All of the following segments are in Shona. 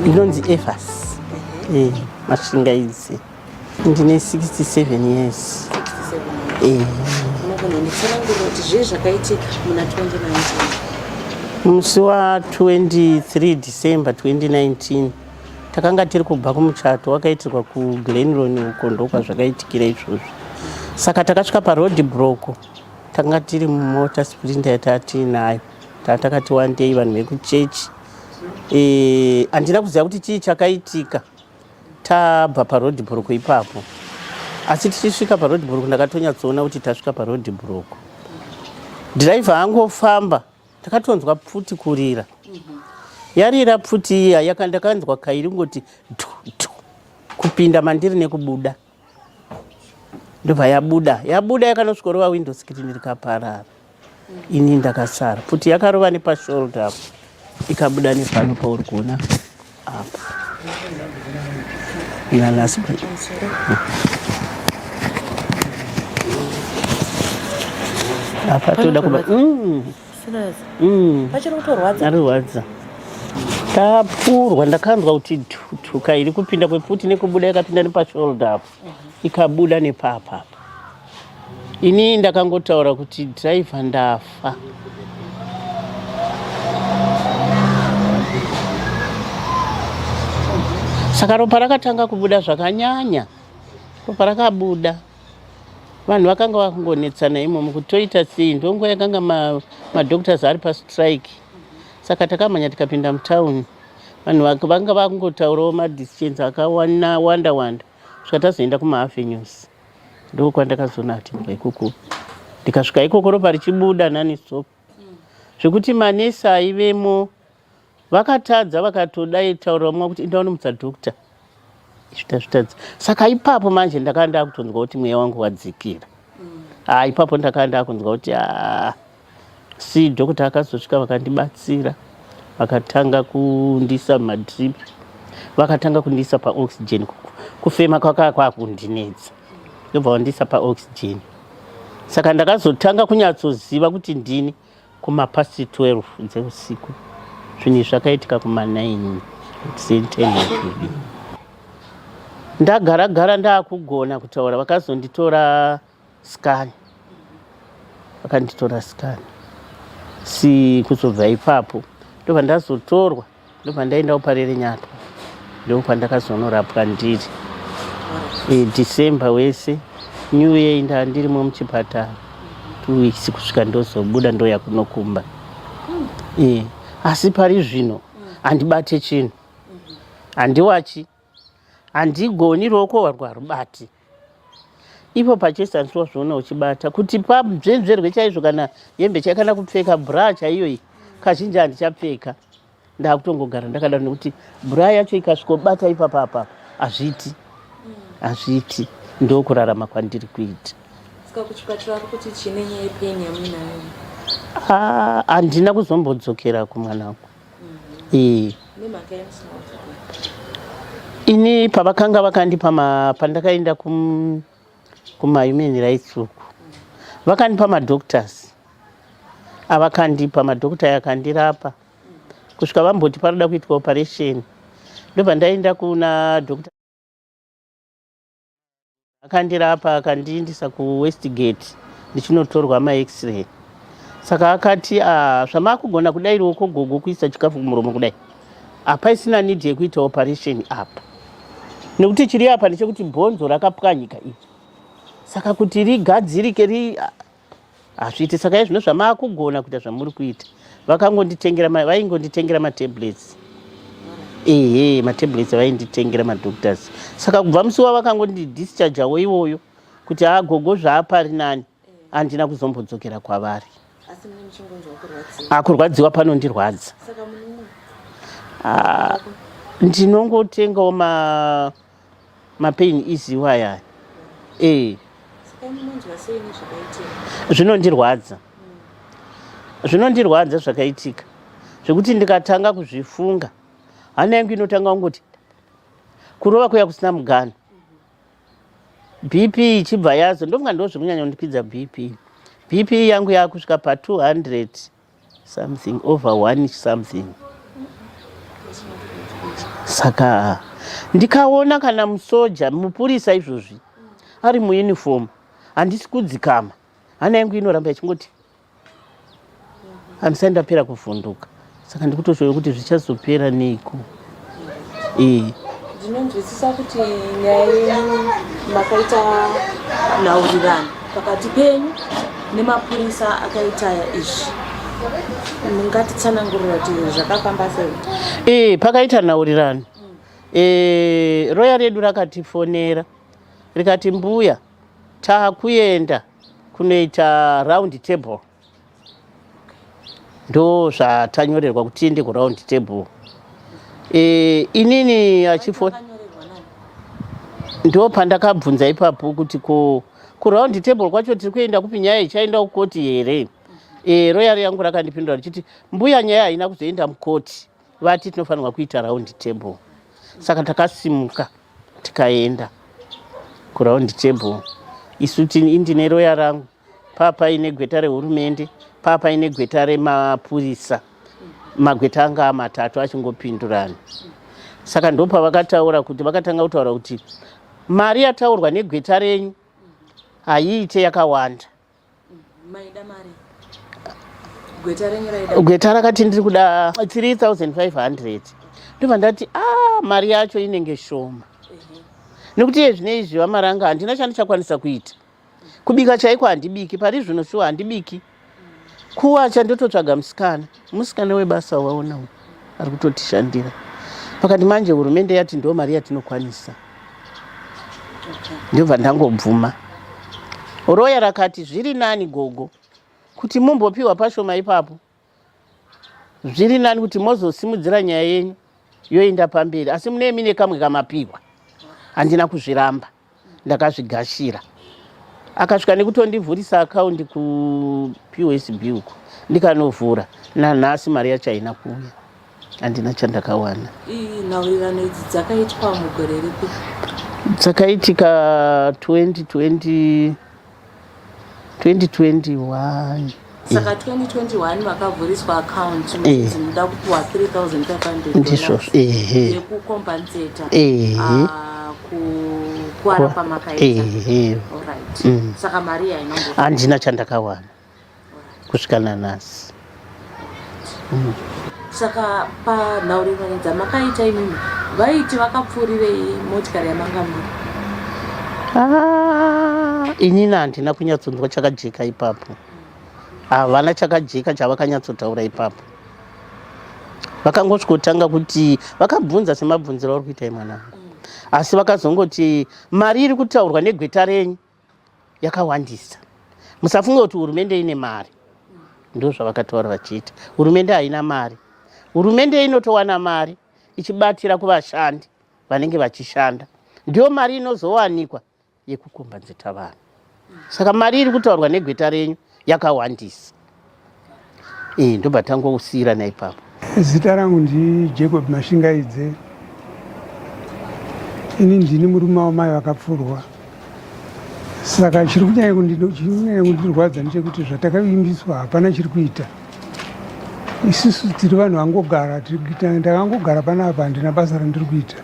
ndinonzi efas eh, mashinga idzi ndine 67 years eh. musi wa 23 december 2019 takanga tiri kubva kumuchato wakaitirwa kuglenron uko ndokwazvakaitikira izvozvo saka takasvika paroad broko tanga tiri mumota sprinter yataa tiinayo taa takati wandei vanhu vekuchechi eh, handina e, kuziva kuti chii chakaitika tabva parodbrook ipapo asi tichisvika parodbrook ndakatonyatsoona kuti tasvika parodbrook dhiraivha hangu ofamba takatonzwa pfuti kurira yarira pfuti iya ndakanzwa kairi ngoti kupinda mandiri nekubuda ndobva yabuda yabuda yakanosvikorova window screen rikaparara ini ndakasara kuti yakarova nepashold apo ikabuda nepano pauri kuona apa nanasi apa toda kuba mm. mm. pachiri kutorwadza arirwadza tapurwa ndakanzwa kuti tuka iri kupinda kwepfuti nekubuda yakapinda nepashoulder apo mhm. ikabuda nepapa apa ini ndakangotaura kuti driver ndafa saka ropa rakatanga kubuda zvakanyanya ropa rakabuda vanhu vakanga vakungonetsana imomo kuti toita sei ndonguva yakanga madoctors ma ari pastrike saka takamhanya tikapinda mutown vanhu vanga vakungotaurawo madistance akawana wanda wanda svika tazoenda kumaavenues ndiko kwandakazoona ati ndika ikoko ndikasvika ikoko ropa richibuda nani stop zvekuti manesi aivemo vakatadza vakatoda itaura vamwe kuti indaona mutsa doctor zvita zvitadza saka ipapo manje ndakanga ndakutonzwa kuti mweya wangu wadzikira mm. ah, ipapo ndakanga ndakunzwa kuti ah, si dhokota akazosvika vakandibatsira vakatanga kundiisa madrip vakatanga kundiisa paoxygen kufema kwakaa kwakundinetsa ndobva vandiisa paoxygen saka ndakazotanga kunyatsoziva kuti ndini kumapasi 12 dzeusiku zvinhu zvakaitika kuma 9 sentenhekudi ndagara gara ndaakugona kutaura vakazonditora scan vakanditora scan si kuzobva ipapo ndobva ndazotorwa Ndopandaenda kuparere nyatwa ndopandakazonorapwa ndiri eh, December wese new year ndaa ndirimo muchipatara two weeks kusvika ndozobuda ndoya kunokumba eh, asi pari zvino handibate chinhu handiwachi handigoni ruoko rwarubati ipo pachesansiwa zvoona uchibata kuti pabvenzverwe chaizvo kana hembe chai kana kupfeka bra chaiyo iyi kazhinji handichapfeka ndakutongogara ndakadaro nekuti bra yacho ikasvikobata ipapa apapa hazviiti hazviiti ndokurarama kwandiri kuita handina kuzombodzokera kumwana wangu eh ini pavakanga vakandipa pandakaenda kum kuma human rights uku vakandipa madoctors avakandipa madoctor yakandirapa kusvika vamboti paroda kuitwa operation ndobva ndaenda kuna doctor akandirapa akandiindisa kuwestgate ndichinotorwa maexray saka akati ah, zvamakugona kudairiwo kogogo kuisa chikafu kumuromo kudai hapaisina need yekuita operation apa nekuti chiri apa ndechekuti bhonzo rakapwanyika ii saka kuti rigadzirike ri hazviite saka izvino zvamaakugona kuita zvamuri kuita vakangonditengera vaingonditengera matablets ehe matablets vainditengera madoctors saka kubva musi wavakangondidischargewo iwoyo kuti agogo zvaapari nani handina kuzombodzokera kwavari akurwadziwa panondirwadza ah, ndinongotengawo ma mapain is you ayaya ee zvinondirwadza zvinondirwadza zvakaitika zvekuti ndikatanga kuzvifunga hana yangu inotanga kungoti kurova kuya kusina mugano bp ichibva yazo ndofunga ndozvekunyanya kundipidza bp bp yangu yakusvika pa 200 something over one something saka ndikaona kana musoja mupurisa izvozvi ari muuniform handisi kudzikama hana yangu inoramba ichingoti handisai ndapera kuvhunduka saka ndikutoshoya kuti zvichazopera neiko Iyi. Ndinonzwisisa kuti nyaya yenyu makaita nhaurirano pakati penyu nemapurisa akaita izvi. Mungatitsanangurira kuti zvakafamba sei? Iyi pakaita nhaurirano. Mm. Eh, roya redu rakatifonera rikati mbuya takuenda kunoita round table ndo zvatanyorerwa kuti tiende kuround table e, inini achifona ndo pandakabvunza ipapo kuti ko kuround table kwacho tiri kuenda kupi nyaya ichaenda kukoti here e, royal yangu rakandipindura richiti mbuya nyaya haina kuzoenda mukoti vati tinofanirwa kuita round table saka takasimuka tikaenda kuround table isu indine roya rangu paa paine gweta rehurumende paa paine gweta remapurisa magweta anga matatu achingopindurana saka ndopavakataura kuti vakatanga kutaura kuti mari yataurwa negweta renyu haiite yakawanda gweta rakati ndiri kuda 3500 ndobva ndati a ah, mari yacho inenge shoma nekuti iye zvine izvi vamaranga handina chandichakwanisa kuita kubika chaiko handibiki pari zvino shuwa handibiki kuwacha ndototsvaga musikana musikana webasa waona uyu ari kutotishandira pakati manje hurumende yati ndo mari yatinokwanisa ndobva ndangobvuma roya rakati zviri nani gogo kuti mumbopiwa pashoma ipapo zviri nani kuti mozosimudzira nyaya yenyu yoenda pamberi asi mune mine kamwe kamapihwa handina kuzviramba ndakazvigashira akasvika nekutondivhurisa akaundi kupsb uko ndikanovhura nanhasi mari yacho haina kuuya handina chandakawana nhaurirano idzi dzakaitwa mugore ripi dzakaitika 2020 2021 saka 2021 vakavhuriswa account eh. muda kupiwa 3500 ndizvo ehe yekucompensata ehe ah, kukwara kwamakaita ehe alright mm. saka mari yainongo handina chandakawana kusvika nanhasi mm. saka panhauro imwana dzamakaita imimi vaiti vakapfuurirei motikari yamanga muri ah, inini handina kunyatsonzwa chakajeka ipapo havana chakajeka chavakanyatsotaura ipapo vakangosvikotanga kuti vakabvunza semabvunziro auri kuita imwanangu asi vakazongoti mari iri kutaurwa negweta renyu yakawandisa musafunge kuti hurumende ine mari ndo zvavakataura vachiita hurumende haina mari hurumende inotowana mari ichibatira kuvashandi vanenge vachishanda ndiyo mari inozowanikwa yekukombanzeta vanhu saka mari iri kutaurwa negweta renyu yakawandisa Eh, ndobva tangwa kusiyirana ipapo. Zita rangu ndi Jacob Mashingaidze. Ini ndini murume wamai vakapfurwa. Saka chiri kunyanya kundirwadza ndechekuti zvatakavimbiswa hapana chiri kuita. Isusu tiri vanhu vangogara, ndakangogara panapa handina basa randiri kuita.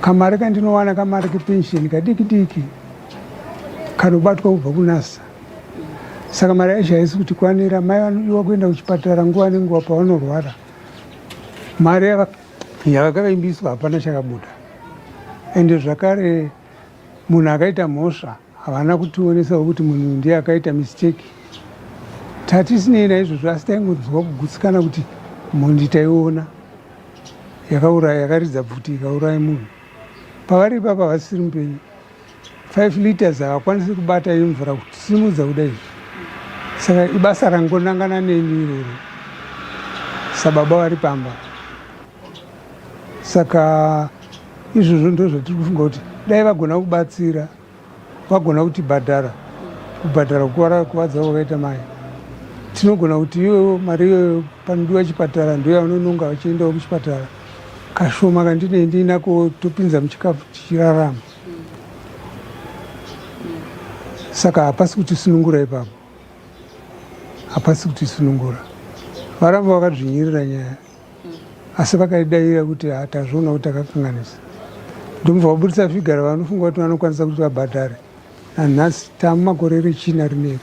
Kamari kandinowana kamari kepensheni kadiki diki kanobatwa kubva kunasa. saka mari yacho haisi kutikwanira mai vanodiwa kuenda kuchipatara nguva nenguva pavanorwara mari yakavaimbiswa hapana chakabuda ende zvakare munhu akaita mhosva havana kutionesawo kuti munhu ndiye akaita mistake tatisinei naizvozvo asi taingonzwa kugutsikana kuti mhondi taiona yakauraya yakaridza bvuti ikauraya munhu pavari ipapa vasiri mupenyu 5 liters havakwanisi kubata yemvura kusimudza kuda izvi saka ibasa rangonangana neni iroro sababa vari pamba saka izvozvo ndo zvatiri kufunga kuti dai vagona kubatsira vagona kuti bhadhara kubhadhara kukuvara kuvadza kwakaita mai tinogona kuti iyoyo mari iyoyo panodiwa chipatara ndoyaunononga vachiendawo kuchipatara kashoma kandine ndinako topinza muchikafu tichirarama saka hapasi kuti sunungura ipapo hapasi kuti sunungura varamba vakadzvinyirira nyaya asi vakaidaira kuti hatazviona kuti takakanganisa ndomva vaburitsa figara vanofunga kuti vanokwanisa kuti vabhadhare Nanhasi tamu makore rechina rineri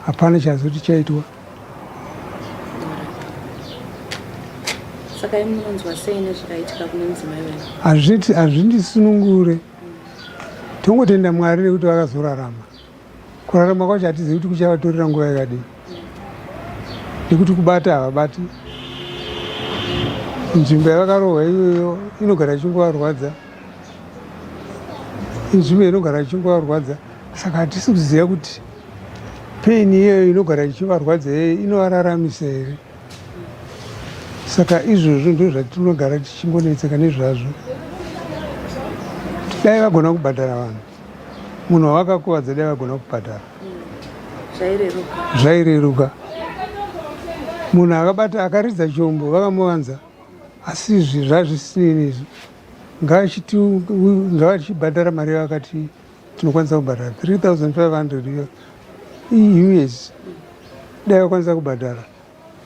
hapana chazoti chaitwa. Saka imi munonzwa sei nezvakaitika kune mudzimai wenyu? Hazviti hazvindisunungure. Tongotenda Mwari nekuti vakazorarama. Kurarama kwacho hatizivi kuti kuchavatorera nguva yakadini. Nekuti kubata havabati. Nzvimbo yavakarohwa iyoyo inogara ichingovarwadza. inzvimbo inogara ichingovarwadza saka hatisi kuziva kuti pain iyeyo inogara ichivarwadza iyeyo inovararamisa here saka izvozvo ndo zvatinogara tichingonetseka nezvazvo dai vagona kubhadhara vanhu munhu wavakakuvadza dai vagona kubhadhara zvaireruka munhu akabata akaridza chombo vakamuvanza asi izvi zvazvisinei nezvi ngavachibhadhara mari yakati tinokwanisa kubhadhara 3500 us dai vakwanisa kubhadhara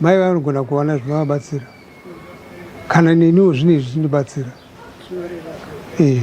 mai vanogona kuwana zvinovabatsira kana neniwo zvinei zvichindibatsira ee eh.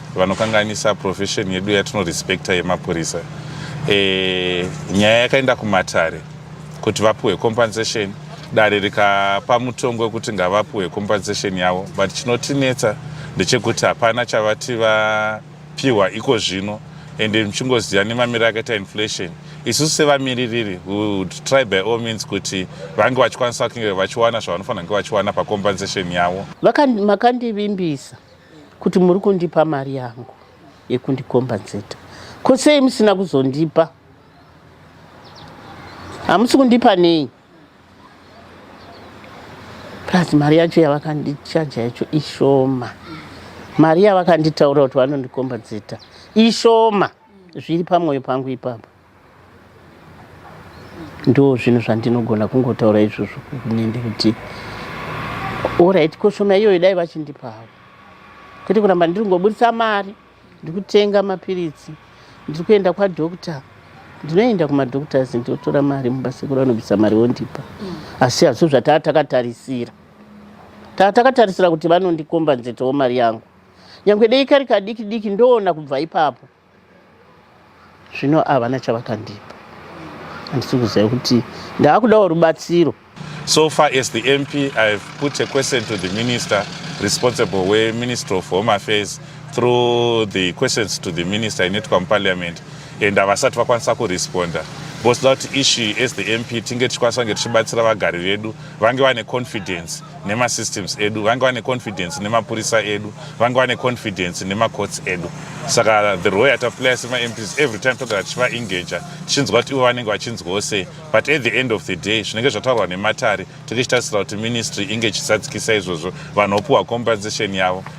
vanokanganisa profession yedu yatinorespecta yemapurisa e, nyaya yakaenda kumatare kuti vapiwe compensation dare rikapa mutongo wekuti ngavapiwe compensation yavo but chinotinetsa ndechekuti hapana chavati vapiwa iko zvino and muchingoziva nemamiriro akaita inflation isusu sevamiririri would try by all means kuti vange vachikwanisa kunge vachiwana zvavanofanira kunge vachiwana pacompensation yavo makandivimbisa kuti muri kundipa mari yangu yekundikomba nzeta ko sei musina kuzondipa hamusi kundipa nei plus mari yacho yavakandichaja yacho ishoma mari yavakanditaura kuti vanondikomba nzeta ishoma zviri pamwoyo pangu ipapo ndo zvinhu zvandinogona kungotaura izvozvo kunende kuti orit ko shoma iyoyo dai vachindipa havo kwete kuramba ndiri kungoburitsa mari ndiri kutenga mapiritsi ndiri kuenda kwadoctor ndinoenda kumadoctors ndotora mari mubasekuru vanobvisa mari vondipa mm. asi hazvo zvataa takatarisira taa takatarisira kuti vanondikomba nzetowo mari yangu nyange dei kari kadiki diki ndoona kubva ipapo zvino havana chavakandipa handisi kuziva kuti ndaakudawo rubatsiro So far as the MP, I've put a question to the minister responsible where Minister of Home Affairs through the questions to the minister in Netcom Parliament and havasati vakwanisa kuresponda because that issue as the MP tinge tichikwanisa kunge tichibatsira vagari vedu vange vane confidence nemasystems edu vange vane confidence nemapurisa edu vange vane confidence nemacourts edu saka the roy ataplaya semamps every time togara tichivaengager tichinzwa kuti ivo vanenge vachinzwawo sei but at the end of the day zvinenge zvataurwa nematare tenge chitarisira kuti ministry inge chitsatsikisa izvozvo vanhu vopiwa compensation yavo